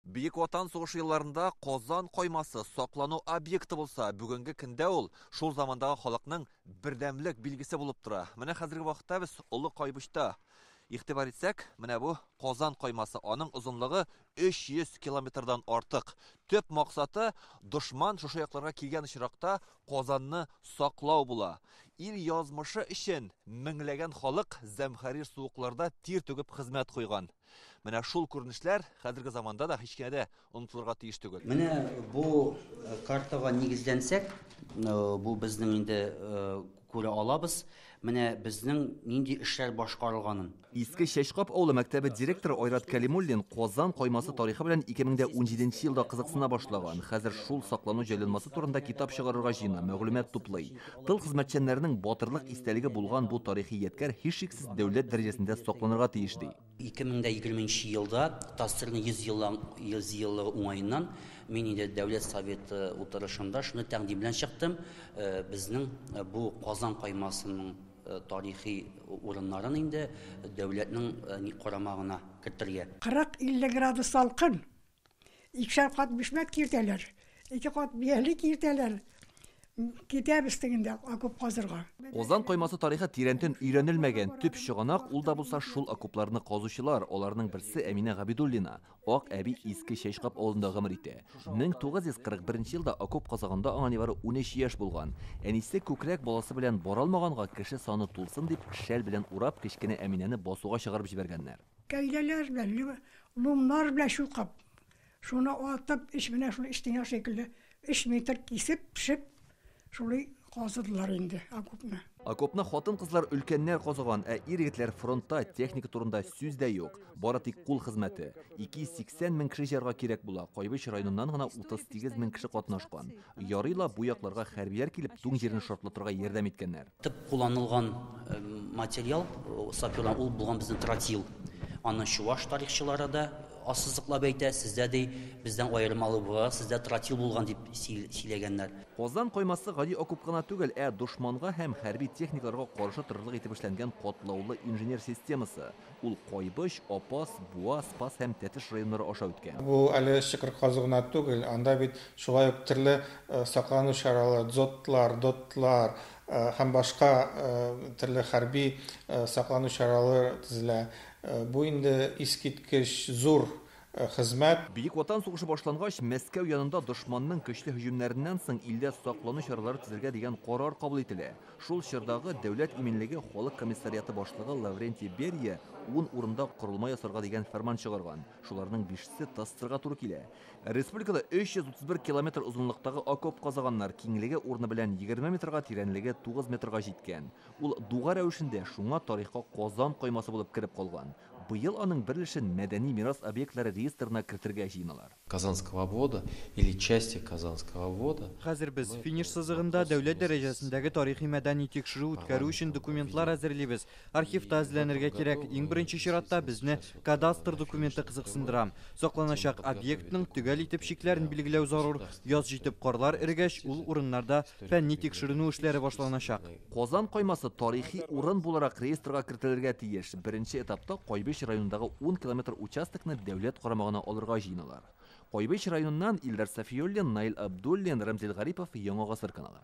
Бөек Ватан сугышы елларында Казан каймасы саклану объекты булса, бүгенге көндә ул шул замандагы халыкның бердәмлек билгесе булып тора. Менә хәзерге вакытта без Олы Кайбычта игътибар итсәк, менә бу Казан каймасы, аның озынлыгы 300 километрдан артык. Төп максаты дошман шушы якларга килгән очракта Казанны саклау була. Ил язмышы өчен меңләгән халык зәмхәрир суыкларда тир түгеп хезмәт куйган. Менә шул күренешләр хәзерге заманда да һич кенә дә онытылырга тиеш түгел. Менә бу э, картага нигезләнсәк, э, бу безнең инде э, күрә алабыз, менә безнең нинди эшләр башкарылганын. Иске Чәчкап авылы мәктәбе директоры Айрат Кәлимуллин Казан каймасы тарихы белән 2017 елда кызыксына башлаган. Хәзер шул саклану җайланмасы турында китап чыгарырга җыена, мәгълүмат туплый. Тыл хезмәтчәннәренең батырлык истәлеге булган бу тарихи ядкәр һичшиксез дәүләт дәрәҗәсендә сакланырга тиеш, ди. 2020 нче елда ТАССРның 100 еллан 100 еллыгы уңаеннан мин инде Дәүләт Советы утырышында шундый тәкъдим белән чыктым, безнең бу Казан каймасының тарихи урыннарын инде дәүләтнең карамагына кертергә. 40-50 градус салкын, Икешәр кат бишмәт киртәләр, ике кат бияле киртәләр. Китәбез тегендә окоп казырга. Казан коймасы тарихы тирәнтен өйрәнелмәгән. Төп чыганак ул да булса шул окопларны казучылар, аларның берсе Әминә Габидуллина. Ак әби Иске Чәчкап авылында гомер итә. 1941 елда окоп казаганда аңа нибары унөч яшь булган. Әнисе күкрәк баласы белән бара алмаганга, кеше саны тулсын дип, шәл белән урап, кечкенә Әминәне басуга чыгарып җибәргәннәр. Кәйләләр белән, либо ломнар белән чукып, шуны атып, эч менә шул стена шикелле өч метр кисеп, пешеп, шулай казыдылар инде окопны. Окопны хатын-кызлар, өлкәннәр казыган, ә ир-егетләр фронтта, техника турында сүз дә юк. Бары тик кул хезмәте. 280 мең кеше җыярга кирәк була, Кайбыч районыннан гына 38 мең кеше катнашкан. Ярый ла бу якларга хәрбиләр килеп туң җирен шартлатырга ярдәм иткәннәр. Тып кулланылган материал саперлар ул булган безнең тротил. Аны чуваш тарихчылары да ассызыклап әйтә, сездә ди бездән аермалы буларак сездә тротил булган дип сөйләгәннәр. Казан каймасы гади окоп кына түгел, ә дошманга һәм хәрби техникаларга каршы торырлык итеп эшләнгән катлаулы инженер системасы. Ул Кайбыч, Апас, Буа, Спас һәм Тәтеш районнары аша үткән. Бу әле чокыр казу гына түгел, анда бит шулай ук төрле саклану чаралы, дзотлар, дотлар һәм башка төрле хәрби саклану чаралы төзелә. Бу инде искиткеч зур хезмәт. Бөек Ватан сугышы башлангач, Мәскәү янында дошманның көчле һөҗүмнәреннән соң илдә саклану чаралары төзергә дигән карар кабул ителә. Шул чордагы Дәүләт иминлеге халык комиссариаты башлыгы Лаврентий Берия ун урында корылма ясарга дигән фәрман чыгарган, шуларның бишесе ТАССРга туры килә. Республикада 331 километр озынлыктагы окоп казаганнар, киңлеге урыны белән егерме метрга, тирәнлеге тугыз метрга җиткән. Ул дуга рәвешендә, шуңа тарихка Казан каймасы булып кереп калган. Быел аның бер өлешен мәдәни мирас объектлары реестрына кертергә җыеналар. Казанского обвода или части Казанского обвода. Хәзер без финиш сызыгында, дәүләт дәрәҗәсендәге тарихи-мәдәни тикшерү үткәрү өчен документлар әзерлибез. Архивта эзләнергә кирәк. Иң беренче чиратта безне кадастр документы кызыксындыра. Сакланачак объектның төгәл итеп чикләрен билгеләү зарур. Яз җитеп карлар эрегәч, ул урыннарда фәнни-тикшеренү эшләре башланачак. Казан каймасы тарихи урын буларак реестрга кертелергә тиеш. Беренче этапта Кайбыч районындагы 10 километр участокны дәүләт карамагына алырга җыеналар. Кайбыч районыннан Илдар Сафиуллин, Наил Абдуллин, Рәмзил Гарипов, Яңа гасыр каналы.